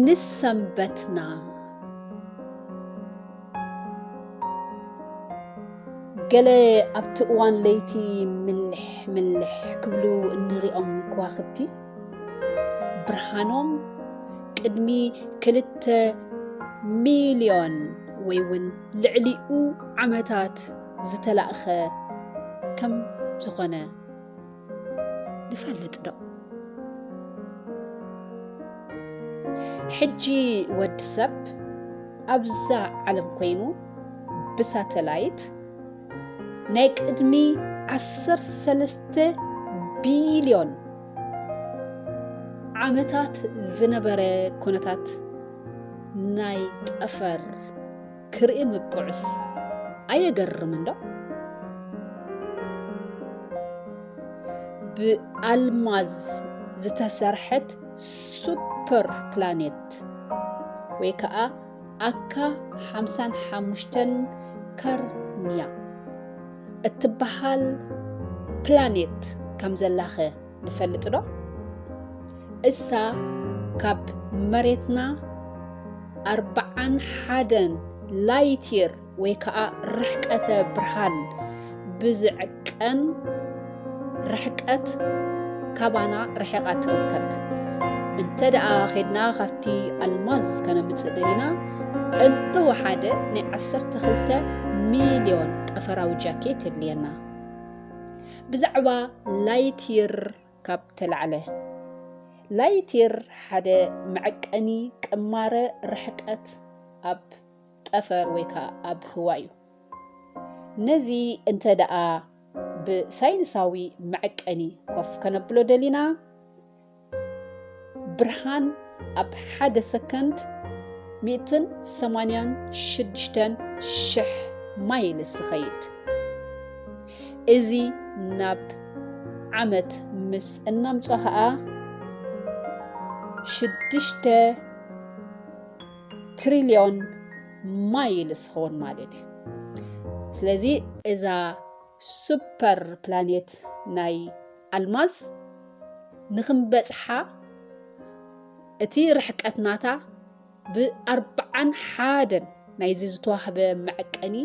ንሰንበትና ገለ ኣብቲ እዋን ለይቲ ምልሕ ምልሕ ክብሉ እንሪኦም ከዋኽብቲ ብርሃኖም ቅድሚ ክልተ ሚልዮን ወይ እውን ልዕሊኡ ዓመታት ዝተላእከ ከም ዝኾነ ንፈልጥ ዶ? ሕጂ ወዲ ሰብ ኣብዛ ዓለም ኮይኑ ብሳተላይት ናይ ቅድሚ ዓሰርተ ሰለስተ ቢልዮን ዓመታት ዝነበረ ኩነታት ናይ ጠፈር ክርኢ ምብቅዑስ ኣየገርምን ዶ? ብኣልማዝ ዝተሰርሐት ሱፐር ፕላኔት ወይ ከዓ ኣካ ሓምሳን ሓሙሽተን ከርንያ እትበሃል ፕላኔት ከምዘላኸ ንፈልጥ ዶ? እሳ ካብ መሬትና ኣርብዓን ሓደን ላይትየር ወይ ከዓ ርሕቀተ ብርሃን ብዝዕቀን ርሕቀት ካባና ርሒቓ ትርከብ እንተ ደኣ ኼድና ካብቲ ኣልማዝ ከነምፅእ ደሊና እንተወሓደ ናይ ዓሰርተ ክልተ ሚልዮን ጠፈራዊ ጃኬት የድልየና ብዛዕባ ላይትይር ካብ ተላዕለ። ላይትይር ሓደ መዐቀኒ ቅማረ ርሕቀት ኣብ ጠፈር ወይ ከኣ ኣብ ህዋ እዩ። ነዚ እንተ ደኣ ብሳይንሳዊ መዐቀኒ ኮፍ ከነብሎ ደሊና፣ ብርሃን ኣብ ሓደ ሰከንድ ሚእትን ሰማንያን ሽዱሽተን ሽሕ ማይልስ ዝኸይድ እዚ ናብ ዓመት ምስ እናምጾ ኸኣ ሽዱሽተ ትሪልዮን ማይልስ ኸውን ማለት እዩ ስለዚ እዛ ሱፐር ፕላኔት ናይ ኣልማዝ ንክንበጽሓ እቲ ርሕቀት ናታ ብ ኣርብዓን ሓደን ናይዚ ዝተዋህበ መዐቀኒ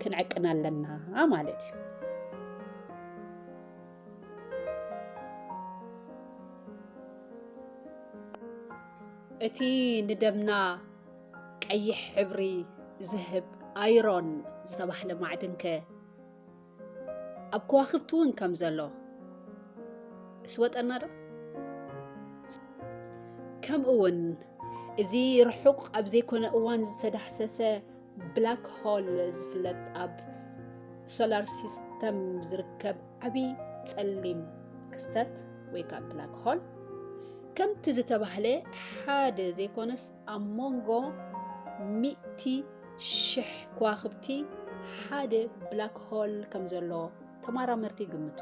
ክንዕቅን ኣለና ማለት እዩ። እቲ ንደምና ቀይሕ ሕብሪ ዝህብ ኣይሮን ዝተባህለ ማዕድን ከ ኣብ ከዋኽብቲ እውን ከም ዘሎ እስወጠና ዶ ከምኡ እውን እዚ ርሑቕ ኣብ ዘይኮነ እዋን ዝተዳህሰሰ ብላክ ሆል ዝፍለጥ ኣብ ሶላር ሲስተም ዝርከብ ዓብዪ ጸሊም ክስተት ወይ ከዓ ብላክ ሆል ከምቲ ዝተባህለ ሓደ ዘይኮነስ ኣብ ሞንጎ ሚእቲ ሽሕ ከዋኽብቲ ሓደ ብላክ ሆል ከም ዘሎ ተመራመርቲ ይግምቱ።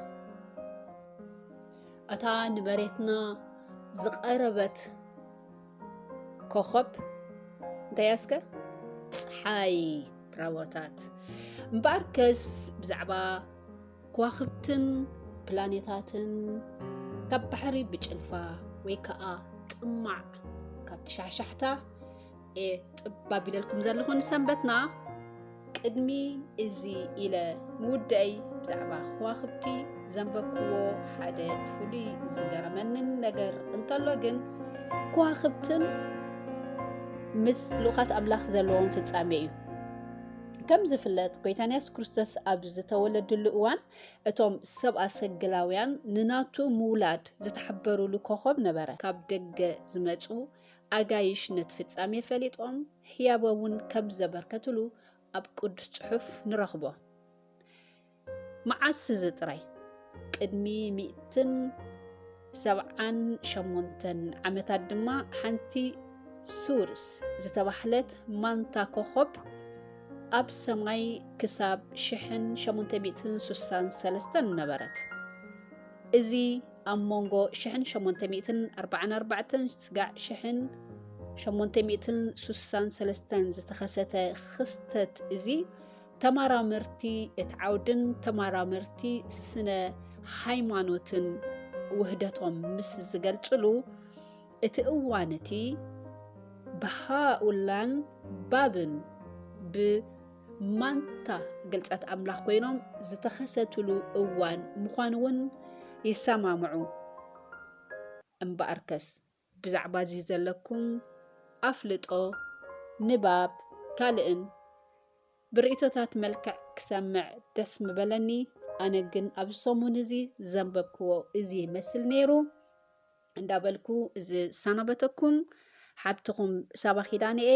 እታ ንመሬትና ዝቐረበት ኮኸብ እንታይ እያ እስከ? ፀሓይ። ብራቮታት። እምበኣርከስ ብዛዕባ ከዋኽብትን ፕላኔታትን ካብ ባሕሪ ብጭልፋ ወይ ከዓ ጥማዕ ካብ ትሻሕሻሕታ እየ ጥባብ ኢለልኩም ዘለኹ ንሰንበትና ቅድሚ እዚ ኢለ ምውደአይ ብዛዕባ ከዋኽብቲ ዘንበብክዎ ሓደ ፍሉይ ዝገረመንን ነገር እንተሎ ግን ከዋኽብትን ምስ ልኡኻት ኣምላኽ ዘለዎም ፍጻሜ እዩ ከም ዝፍለጥ ጎይታና የሱስ ክርስቶስ ኣብ ዝተወለድሉ እዋን እቶም ሰብኣ ሰግላውያን ንናቱ ምውላድ ዝተሓበሩሉ ኮኾብ ነበረ። ካብ ደገ ዝመጹ ኣጋይሽ ነቲ ፍጻሜ ፈሊጦም ህያበ እውን ከም ዘበርከትሉ ኣብ ቅዱስ ጽሑፍ ንረኽቦ። መዓስ እዚ ጥራይ ቅድሚ ሚእትን ሰብዓን ሸሞንተን ዓመታት ድማ ሓንቲ ሱርስ ዝተባህለት ማንታ ኮኾብ ኣብ ሰማይ ክሳብ ሽሕን ሸሞንተ ሚእትን ሱሳን ሰለስተን ነበረት። እዚ ኣብ መንጎ ሽሕን ሸሞንተ ሚእትን ኣርባዓን ኣርባዕተን ስጋዕ ሽሕን ሸሞንተ ሚእትን ሱሳን ሰለስተን ዝተኸሰተ ክስተት እዚ ተማራመርቲ እቲ ዓውድን ተማራመርቲ ስነ ሃይማኖትን ውህደቶም ምስ ዝገልጽሉ እቲ እዋን እቲ ብሃኡላን ባብን ብማንታ ግልጸት ኣምላኽ ኮይኖም ዝተኸሰትሉ እዋን ምዃኑ እውን ይሰማምዑ። እምበኣርከስ ብዛዕባ እዚ ዘለኩም ኣፍልጦ፣ ንባብ፣ ካልእን ብርእይቶታት መልክዕ ክሰምዕ ደስ ምበለኒ። ኣነ ግን ኣብዚ ሰሙን እዚ ዘንበብክዎ እዚ ይመስል ነይሩ እንዳበልኩ ዝሰናበተኩም ሓብትኹም ሳባ ኪዳነ እየ።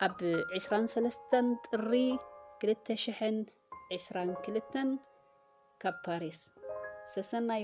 ኣብ ዕስራን ሰለስተን ጥሪ ክልተ ሽሕን ዕስራን ክልተን ካብ ፓሪስ ሰሰናዩ።